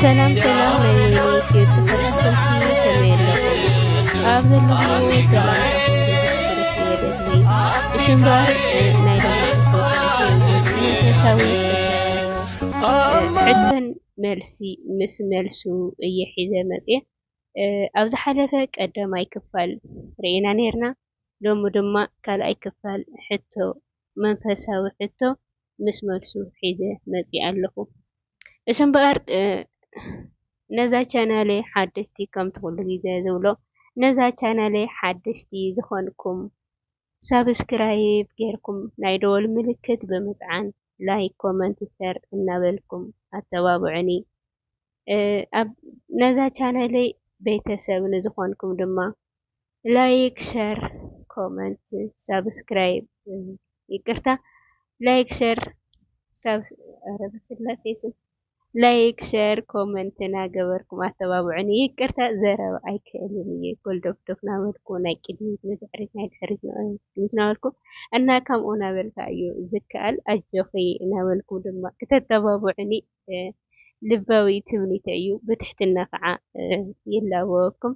ሰላም ሰላም ናይ ወይኒ ዩትዩብ ተኸታተልቲ ከመይ ኣለኹም ኣብ ዘለኹምዎ ሰላምታኹም ብዝሕትርፍ የደሊ እሽምባር ናይ መንፈሳዊ ሕቶን መልሲ ምስ መልሱ እየ ሒዘ መፅየ ኣብ ዝሓለፈ ቀዳማይ ክፋል ርኢና ነርና ሎሚ ድማ ካልኣይ ክፋል ሕቶ መንፈሳዊ ሕቶ ምስ መልሱ ሒዘ መጺኣ ኣለኹ። እቲ እምበኣር ነዛ ቻናለይ ሓደሽቲ ከምቲ ኩሉ ግዜ ዝብሎ ነዛ ቻናለይ ሓደሽቲ ዝኾንኩም ሳብስክራይብ ጌርኩም ናይ ደወል ምልክት ብምጽዓን ላይክ ኮመንት ሸር እናበልኩም ኣተባብዑኒ። ነዛ ቻናለይ ቤተሰብ ንዝኾንኩም ድማ ላይክ ሸር ኮመንት ሳብስክራይብ ይቅርታ ላይክ ሸር ረበስላሴ ስም ላይክ ሸር ኮመንት ናገበርኩም ኣተባብዑኒ። ይቅርታ ዘረባ ኣይክእልን እየ ጎልዶፍዶፍ ናበልኩ ናይ ቅድሚት ንድሕሪት ናይ ድሕሪት ንቅድሚት ናበልኩ እና ከምኡ ናበልካ እዩ ዝከኣል ኣጆኺ ናበልኩ ድማ ክተተባብዑኒ ልባዊ ትምኒተ እዩ ብትሕትና ከዓ ይላበወኩም።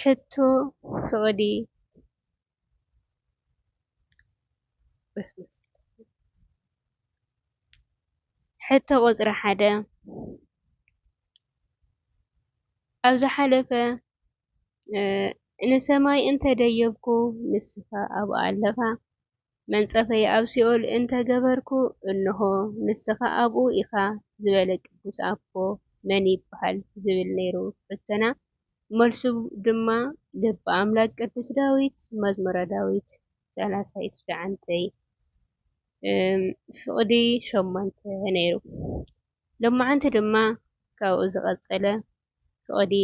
ሕቶ ፍቕዲ ሕቶ ቁፅሪ ሓደ ኣብ ዝሓለፈ ንሰማይ እንተደየብኩ ንስኻ ኣብኡ ኣለኻ መንጸፈይ ኣብ ሲኦል እንተ ገበርኩ እንሆ ንስኻ ኣብኡ ኢኻ ዝበለ ቅዱስ ኣቦ መን ይበሃል ዝብል ነይሩ ሕቶና መልሱ ድማ ልበ ኣምላክ ቅዱስ ዳዊት መዝሙረ ዳዊት ሰላሳይ ትሽዓንተይ ፍቕዲ ሸሞንተ ነይሩ ሎማዓንቲ ድማ ካብኡ ዝቐጸለ ፍቕዲ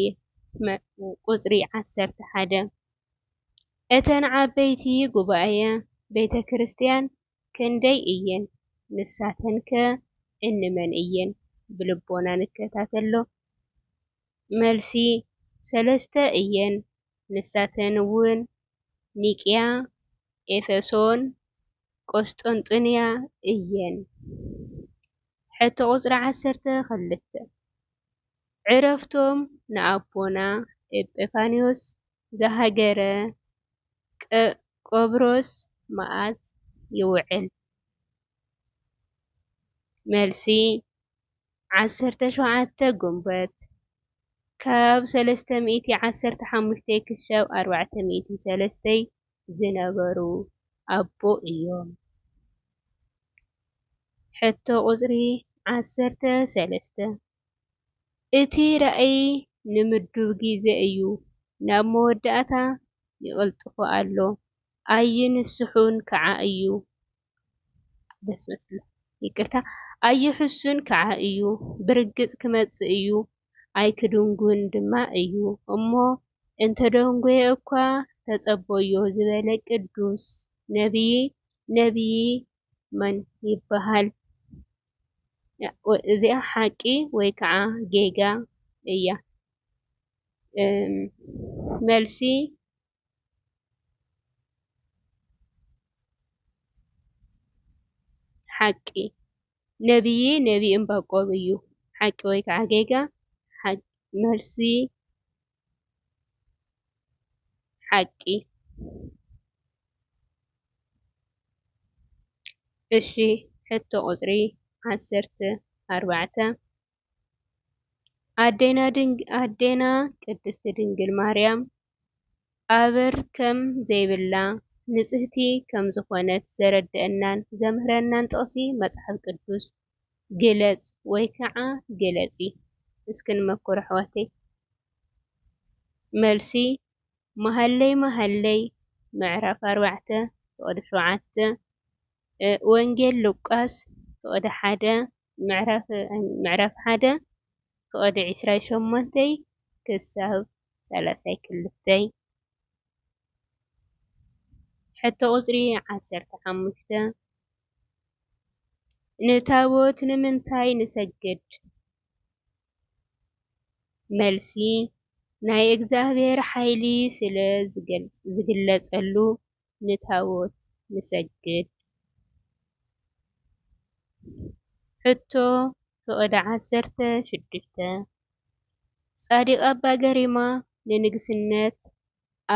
ቁጽሪ ዓሰርተ ሓደ፣ እተን ዓበይቲ ጉባኤ ቤተ ክርስቲያን ክንደይ እየን? ንሳተንከ እንመን እየን? ብልቦና ንከታተሎ። መልሲ፣ ሰለስተ እየን፣ ንሳተን እውን ኒቅያ፣ ኤፌሶን ቈስጠንጢንያ እየን። ሕቶ ቁጽሪ ዓሰርተ ክልተ፣ ዕረፍቶም ንኣቦና ኤጲፋንዮስ ዘሃገረ ቆጵሮስ መኣዝ ይውዕል? መልሲ፣ ዓሰርተ ሸውዓተ ግንቦት ካብ ሰለስተ ሚእቲ ዓሰርተ ሓሙሽተ ክሻብ ኣርባዕተ ሚእቲ ሰለስተይ ዝነበሩ ኣቦ እዮም። ሕቶ ቁጽሪ ዓሰርተ ሰለስተ፣ እቲ ራእይ ንምዱብ ግዜ እዩ፣ ናብ መወዳእታ ይቕልጥፎ ኣሎ፣ ኣይንስሑን ከኣ እዩ። ኣይሕሱን ከዓ እዩ ብርግፅ ክመፅእ እዩ ኣይክድንጉን ድማ እዩ እሞ እንተደንጎየ እኳ ተፀበዮ ዝበለ ቅዱስ ነብይ ነብይ መን ይበሃል? እዚኣ ሓቂ ወይ ከዓ ጌጋ እያ? መልሲ ሓቂ፣ ነብዪ ነቢ እምባቆም እዩ። ሓቂ ወይ ከዓ ጌጋ፣ መልሲ፣ ሓቂ። እሺ ሕቶ ቁፅሪ ዓሰርተ ኣርባዕተ። ኣዴና ቅድስት ድንግል ማርያም ኣበር ከም ዘይብላ ንጽህቲ ከም ዝኾነት ዘረድኣናን ዘምህረናን ጥቅሲ መጽሓፍ ቅዱስ ግለጽ ወይ ከዓ ግለጺ እስኪ ንመኩር ኣሕዋተይ? መልሲ፣ መሃሌ መሃሌ ምዕራፍ ኣርባዕተ ፍቅዲ ሸውዓተ፣ ወንጌል ሉቃስ ፍቅዲ ሓደ ምዕራፍ ሓደ ፍቕዲ ዕስራይ ሸሞንተይ ክሳብ ሳላሳይ ክልተይ ሕቶ ቁጽሪ ዓሰርተ ሓሙሽተ ንታቦት ንምንታይ ንሰግድ? መልሲ፣ ናይ እግዚኣብሔር ሓይሊ ስለ ዝግለጸሉ። ንታቦት ንሰግድ። ሕቶ ፍቕዲ ዓሰርተ ሽዱሽተ ጻዲቕ ኣባ ገሪማ ንንግስነት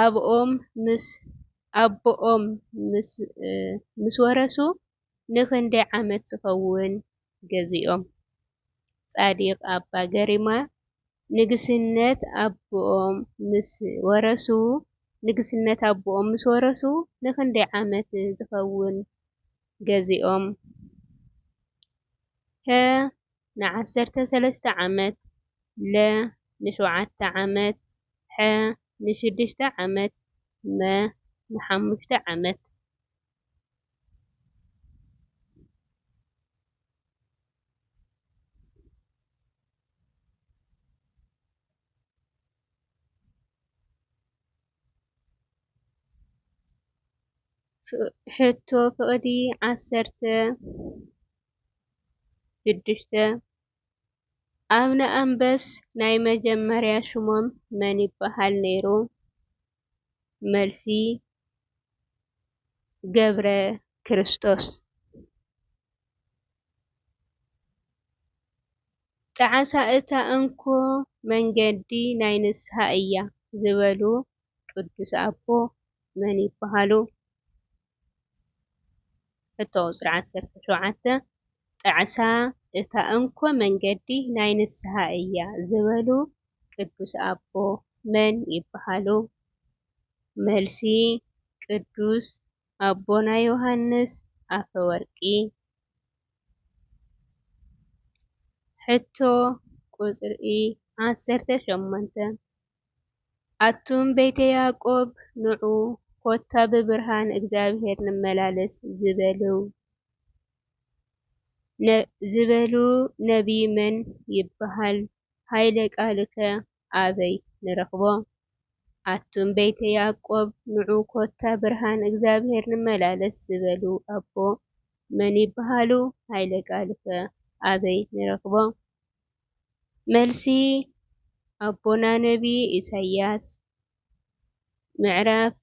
ኣብኦም ምስ ኣቦኦም ምስ ወረሱ ንኽንደይ ዓመት ዝኸውን ገዚኦም። ጻዲቅ ኣባ ገሪማ ንግስነት ኣቦኦም ምስ ወረሱ ንግስነት ኣቦኦም ምስ ወረሱ ንክንደይ ዓመት ዝኸውን ገዚኦም? ከ ንዓሰርተ ሰለስተ ዓመት፣ ለ ንሽውዓተ ዓመት፣ ሐ ንሽዱሽተ ዓመት፣ መ ንሓሙሽተ ዓመት። ሕቶ ፍቕዲ ዓሰርተ ሽዱሽተ ኣብነ ኣንበስ ናይ መጀመርያ ሽሞም መን ይበሃል ነይሩ? መልሲ ገብረክርስቶስ። ጣዕሳ እታ እንኮ መንገዲ ናይ ንስሃ እያ ዝበሉ ቅዱስ ኣቦ መን ይበሃሉ? ሕቶ ቁፅሪ ዓሰርተ ሸውዓተ ጣዕሳ እታ እንኮ መንገዲ ናይ ንስሃ እያ ዝበሉ ቅዱስ ኣቦ መን ይበሃሉ? መልሲ፣ ቅዱስ ኣቦና ዮሃንስ ኣፈወርቂ። ሕቶ ቁፅሪ ዓሰርተ ሸሞንተ ኣቱም ቤተ ያዕቆብ ንዑ፣ ኮታ ብብርሃን እግዚኣብሄር ንመላለስ ዝበሉ ነቢይ መን ይበሃል? ኃይለ ቃሉከ ኣበይ ንረኽቦ? ኣቱም ቤተ ያዕቆብ ንዑ፣ ኮታ ብርሃን እግዚኣብሄር ንመላለስ ዝበሉ ኣቦ መን ይበሃሉ? ኃይለ ቃሉከ ኣበይ ንረኽቦ? መልሲ፣ ኣቦና ነብዪ ኢሳያስ ምዕራፍ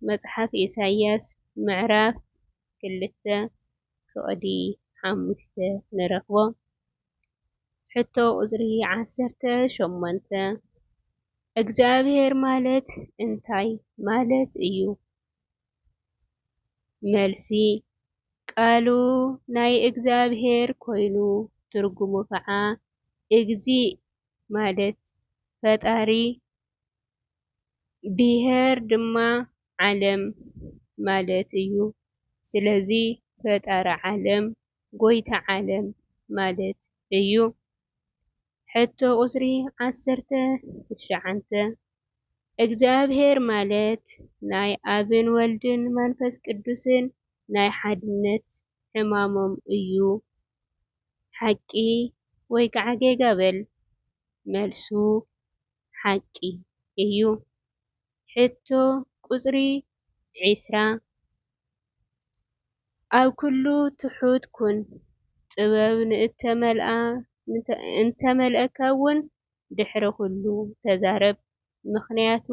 መጽሓፍ ኢሳያስ ምዕራፍ ክልተ ፍቕዲ ሓሙሽተ ንረኽቦ። ሕቶ ቁጽሪ ዓሰርተ ሸሞንተ፣ እግዚኣብሔር ማለት እንታይ ማለት እዩ? መልሲ፣ ቃሉ ናይ እግዚኣብሔር ኮይኑ ትርጉሙ ከዓ እግዚእ ማለት ፈጣሪ ብሔር ድማ ዓለም ማለት እዩ። ስለዚ ፈጣሪ ዓለም ጎይታ ዓለም ማለት እዩ። ሕቶ ቁጽሪ ዓሰርተ ትሽዓተ እግዚኣብሔር ማለት ናይ ኣብን ወልድን መንፈስ ቅዱስን ናይ ሓድነት ሕማሞም እዩ ሓቂ ወይ ከዓ ጌጋ በል። መልሱ ሓቂ እዩ። ሕቶ ቁጽሪ ዒስራ፣ ኣብ ኩሉ ትሑት ኩን፣ ጥበብ ንእንተመልኣካ'ውን ድሕሪ ኩሉ ተዛረብ፣ ምኽንያቱ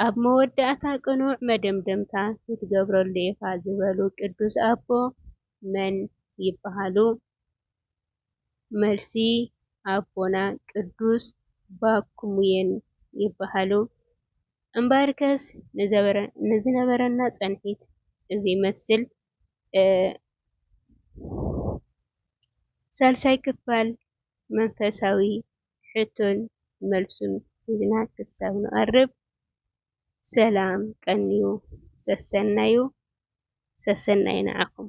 ኣብ መወዳእታ ቅኑዕ መደምደምታ ክትገብረሉ ኢኻ ዝበሉ ቅዱስ ኣቦ መን ይበሃሉ? መልሲ ኣቦና ቅዱስ ባኩሙየን ይበሃሉ። እምበኣርከስ ንዝነበረና ጸንሒት እዚ መስል ሳልሳይ ክፋል መንፈሳዊ ሕቶን መልሱን ሒዝና ክሳብ ንቐርብ ሰላም ቀንዩ ሰሰናዩ ሰሰናዩ ንዓኹም።